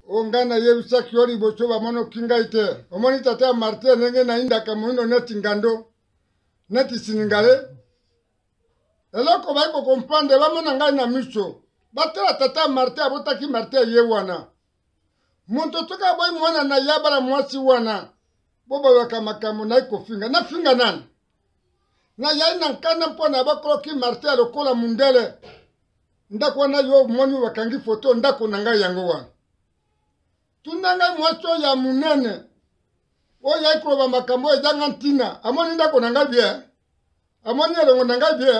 o ngai nayebisaki yo liboso bamonoki ngai te omoni tata ya martin ndenge nayindaka moindo neti ngando neti siningale eloko bayi kokomprendre bamona ngai na miso batala tata ya martin abotaki martin ye wana moto soki aboyi mwana na ye abala mwasi wana mpo bayaka makambo nayi kofinga nafinga nani nayai na nkanda mpo na bakoloki martin lokola mundele ndako wana yo omoni oyo bakangi foto ndako na ngai yango wana tuna ngai mwasi oyo ya monene oyo yai koloba makambo oyo ezanga ntina amoni ndako na ngai bie amoni elongo na ngai bie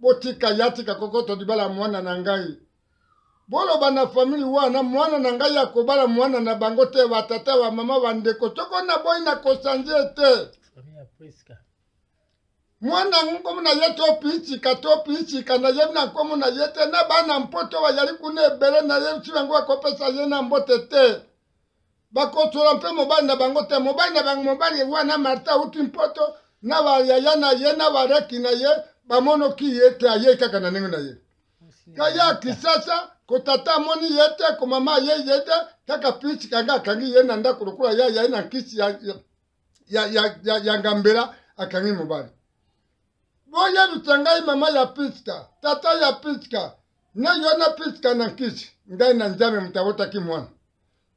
botika ya tika kokoto libala mwana na ngai boloba na famili wana mwana na ngai ya kobala mwana na bango te batata bamama bandeko soko naboyi na kosanze te mwana nkomo na ye to piitika to piitika na ye na nkomo na ye te na bana mpoto bayali kuna ebele na ye ti bango bakopesa ye na mbote te bakotola mpe mobali na bango te mobali na bango mobali wana marta auti mpoto na bayaya na ye na bareki na ye bamonoki ye te ayei kaka na ndenge na ye kaya kisasa kotata amoni ye te komama ayei ye te kaka piitika nga akangi ye na ndako lokola ye ayai na nkisi ya, ya, ya, ya ngambela akangi mobali boyebisa ngai mama ya piska tata ya piska na yo na piska na nkisi ngai na nzambe moto awotaki mwana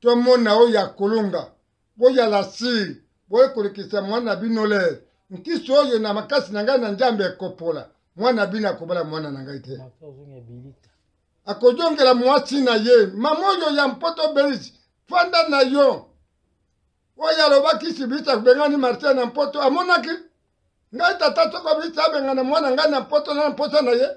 tomona oyo ya kolonga boyala siri boye kolekisa mwana bino lere nkisi oyo na makasi na ngai na nzambe ekopola mwana bino akobala mwana na ngai te akozongela mwasi na ye mama oyo ya mpoto belisi fanda na yo oyo alobaki sibisa bengani martin na mpoto amonaki ngai tata soko abisa abengana mwana ngai na mpoto na mposa na ye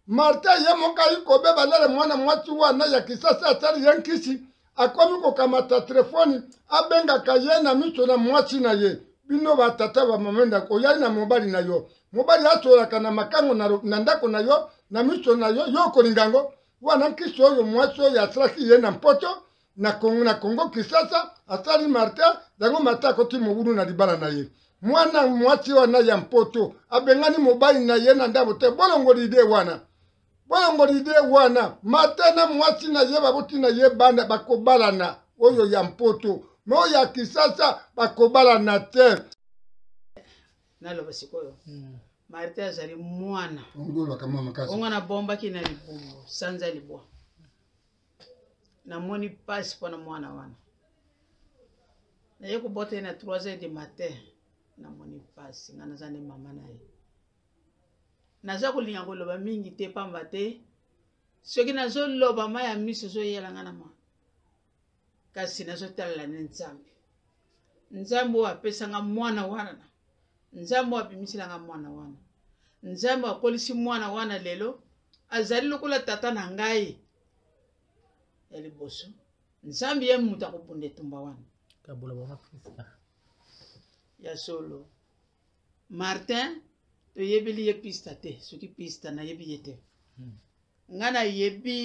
martin ye moko ayi kobeba lele mwana mwasi wana ya kisasa asali ye nkisi akomi kokamata telefoni abengaka ye na miso na mwasi na ye bino batata bamama ndako oyai na mobali na yo mobali asolaka na makango na ndako na yo na miso na yo yo okolinga yango wana nkisi oyo mwasi oyo asalaki ye na mpoto na Congo, na Congo Kinshasa asali martin yango martin akoti mobulu na libala na ye mwana mwasi wana ya mpoto abengani mobali na ye na ndako te bolongoli ide wana bolongoli ide wana martin na mwasi na ye baboti na ye bana bakobalana oyo ya mpoto me oyo ya kisasa bakobalana te naloba sikoyo hmm. martin azali mwana ongo na bombaki na libumbu sanza libwa namoni mpasi mpo na mwana wana naye kobota ye na 3 heures de matin namoni mpasi nga naza nde mama na ye naza kolinga koloba mingi te pamba te soki nazoloba ma ya miso ezoyela nga na ma kasi nazotalela ne nzambe nzambe oyo apesanga mwana wana nzambe oyo abimiselanga mwana wana nzambe akolisi mwana wana lelo azali lokola tata na ngai ya liboso nzambe ye moto akobunda etumba wana kabola bango prisca ya solo martin toyebeli ye pista te soki pista nayebi ye te hmm. ngai nayebi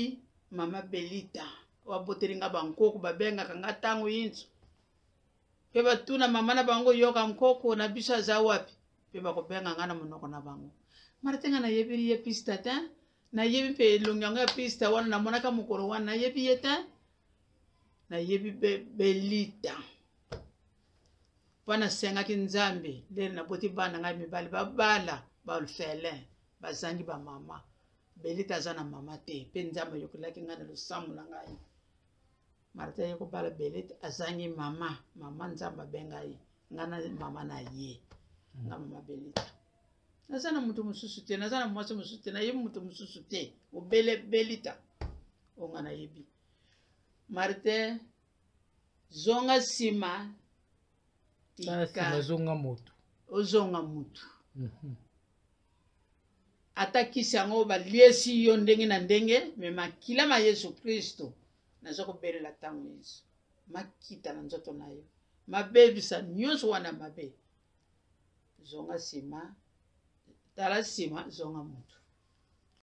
mama belita baboteli nga bankoko babengaka nga ntango yinso mpe batuna mama na bango yoka nkoko na biso aza wapi mpe bakobenga nga na monoko na bango martin nga nayebeli ye pista te nayebi mpe elongi yango ya pista wana namonaka mokolo wana nayebi ye te nayebi belita mpo nasengaki nzambe ndele naboti bana ngai mibali babala bafelin bazangi bamama belita aza na mama te mpe nzambe ayokelaki ngai na losambo na ngai marta ye kobala belita azangi mama mama nzambe abengai ngai na mama na ye nga mama belita naza na moto mosusu te naza na mwasi mosusu te nayebi moto mosusu te obele belita oyo nga nayebi martin zonga nsima ozonga motu ozonga motu mhm. ata kisi yango baliesi yo ndenge na ndenge me makila ma yesu kristo naza kobelela ntango yesu makita na nzoto na yo mabebisa nyonso wana mabe zonga nsima tala nsima zonga moto